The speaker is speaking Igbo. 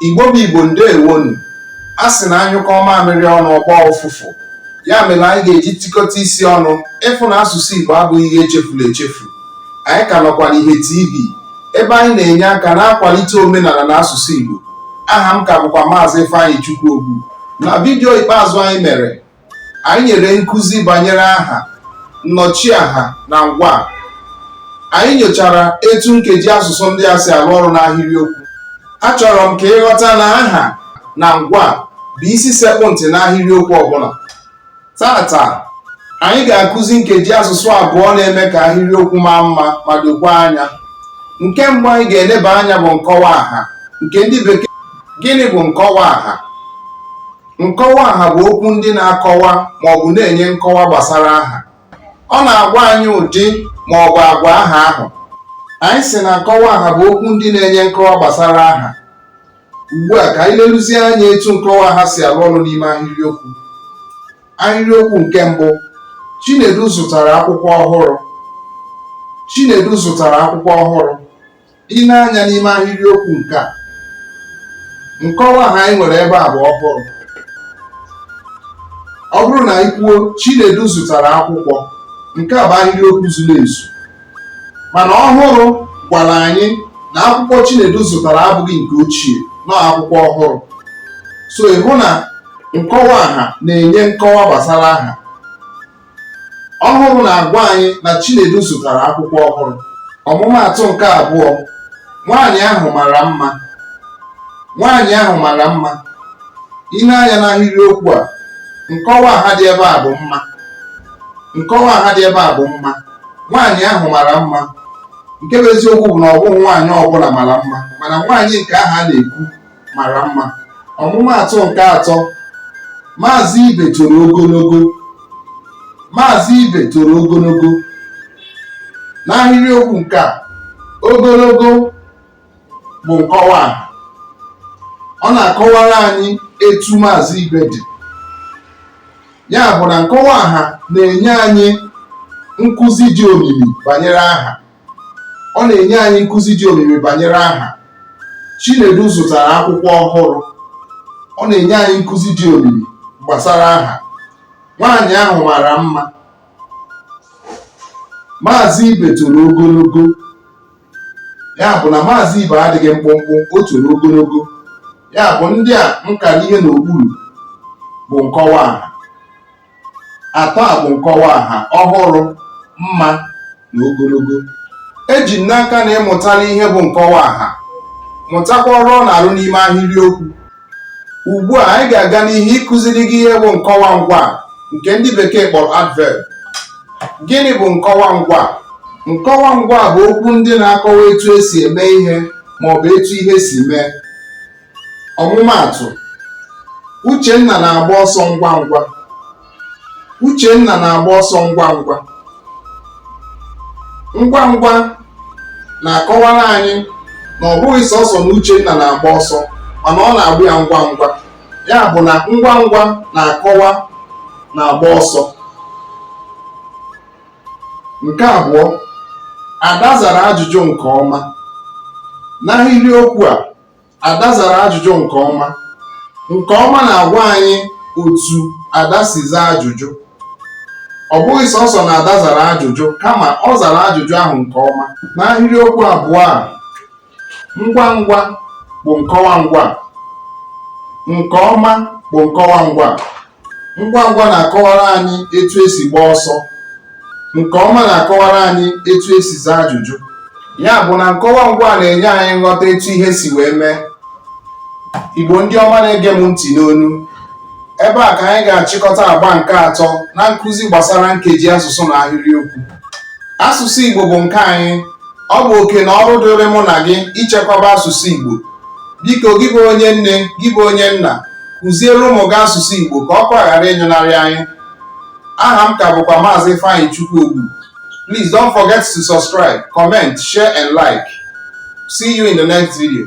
Igbo bụ Igbo ndewonu. A sị na a nyụkọọ mamịrị ọnụ ọ gbọọ ụfụfụ ya mere anyị ga-eji tikọta isi ọnụ ịfụ na asụsụ Igbo abụghị ihe e chefuru echefu anyị ka nọkwa n'ihe TV ebe anyị na-enye aka na-akwalite omenala na asụsụ Igbo aha m ka bụkwa maazị Ifeanyịchukwu Ogbu na vidiyo ikpeazụ anyị mere Anyị nyere nkụzi banyere aha, nnọchiaha na ngwa. Anyị nyochara etu nkeji asụsụ ndị a si arụ ọrụ n'ahịrịokwu. Achọrọ m ka ị ghọta na aha na ngwa bụ isi sekpụ ntị n'ahịrịokwu ọbụla. Taata, anyị ga-akụzi nkeji asụsụ abụọ na-eme ka ahịrịokwu maa mma ma dokwa anya. Nke mbụ anyị ga-eleba anya bụ nkọwa aha nke ndị bekee. Gịnị bụ nkọwa aha? Nkọwa aha bụ okwu ndị na-akọwa ma ọ bụ na-enye nkọwa gbasara aha. Ọ na-agwa anyị ụdị ma ọ bụ agwa aha ahụ. Anyị sị na nkọwa aha bụ okwu ndị na-enye nkọwa gbasara aha. Ugbu a ka anyị leruzie anya etu nkọwa aha si arụ ọrụ n'ime ahịrịokwu. Ahịrịokwu nke mbụ, Chinedu zụtara akwụkwọ ọhụrụ. Chinedu zụtara akwụkwọ ọhụrụ. i nee anya n'ime ahịrịokwu nke a nkọwa aha anyị nwere ebe a bụ ọhụrụ ọ bụrụ na anyị kwuo Chinedu zụtara akwụkwọ nke a bụ ahịrịokwu zuru ezu mana ọhụrụ gwara anyị na akwụkwọ Chinedu zụtara abụghị nke ochie na ọọ akwụkwọ ọhụrụ so ị hụ na nkọwa aha na-enye nkọwa gbasara aha ọhụrụ na-agwa anyị na Chinedu zụtara akwụkwọ ọhụrụ ọmụmaatụ nke abụọ nwaanyị ahụ mara mma nwaanyị ahụ mara mma i lee anya n'ahịrịokwu a nkọwa aha dị ebe a bụ mma nkọwa aha dị ebe a bụ mma nwaanyị ahụ mara mma nke bụ eziokwu bụ na ọ bụghị nwaanyị ọbụla mara mma mana nwaanyị nke ahụ a na-ekwu mara mma ọmụmaatụ nke atọ maazị ibe toro ogologo maazị ibe toro ogologo n'ahịrịokwu nke a ogologo bụ nkọwa aha ọ na-akọwara anyị etu maazị ibe dị ya bụ na nkọwa aha na-enye anyị nkụzi dị omimi banyere aha ọ na-enye anyị nkụzi dị omimi banyere aha Chinedu zụtara akwụkwọ ọhụrụ ọ na-enye anyị nkụzi dị omimi gbasara aha nwaanyị ahụ mara mma maazị ibe toro ogologo ya bụ na maazị ibe adịghị mkpụmkpụ o toro ogologo ya bụ ndị a m kara ihe n'okpuru bụ nkọwa aha atọ a bụ nkọwa aha ọhụrụ mma na ogologo eji m n'aka na ịmụtala ihe bụ nkọwa aha mụtakwa ọrụ ọ na-arụ n'ime ahịrịokwu ugbu a anyị ga-aga n'ihu ịkụziri gị ihe bụ nkọwa ngwa nke ndị bekee kpọrọ adverb gịnị bụ nkọwa ngwa nkọwa ngwa bụ okwu ndị na-akọwa etu esi eme ihe ma ọ bụ etu ihe si mee ọmụmaatụ uchenna na-agba ọsọ ngwa ngwa uchenna na-agba ọsọ ngwa ngwa ngwa ngwa na-akọwara anyị na ọ bụghị sọsọ na uchenna na-agba ọsọ mana ọ na-agba ya ngwa ngwa ya bụ na ngwa ngwa na-akọwa na-agba ọsọ nke abụọ ada zara ajụjụ nke ọma n'ahịrịokwu a Ada zara ajụjụ nke ọma. Nke ọma na-agwa anyị otu Ada si zaa ajụjụ. Ọ bụghị sọsọ na Ada zara ajụjụ kama ọ zara ajụjụ ahụ nke ọma. N'ahịrịokwu abụọ a, ngwa ngwa bụ nkọwa ngwa, nke ọma bụ nkọwa ngwa. ngwa ngwa na-akọwara anyị etu esi gbaa ọsọ nke ọma na-akọwara anyị etu esi zaa ajụjụ ya bụ na nkọwa ngwa na-enye anyị nghọta etu ihe si wee mee igbo ndị ọma na-ege m ntị n'ụnọ ebe a ka anyị ga-achịkọta agba nke atọ na nkụzi gbasara nkeji asụsụ na ahịrịokwu asụsụ igbo bụ nke anyị ọ bụ oke na ọrụ dịrị mụ na gị ichekwaba asụsụ igbo biko gị bụ onye nne gị bụ onye nna kụziere ụmụ gị asụsụ Igbo ka ọkụ a ghara ịnyụnarị anyị aha m ka bụkwa maazị Ifeanyịchukwu Ogbu please don't forget to subscribe comment share and like see you in the next video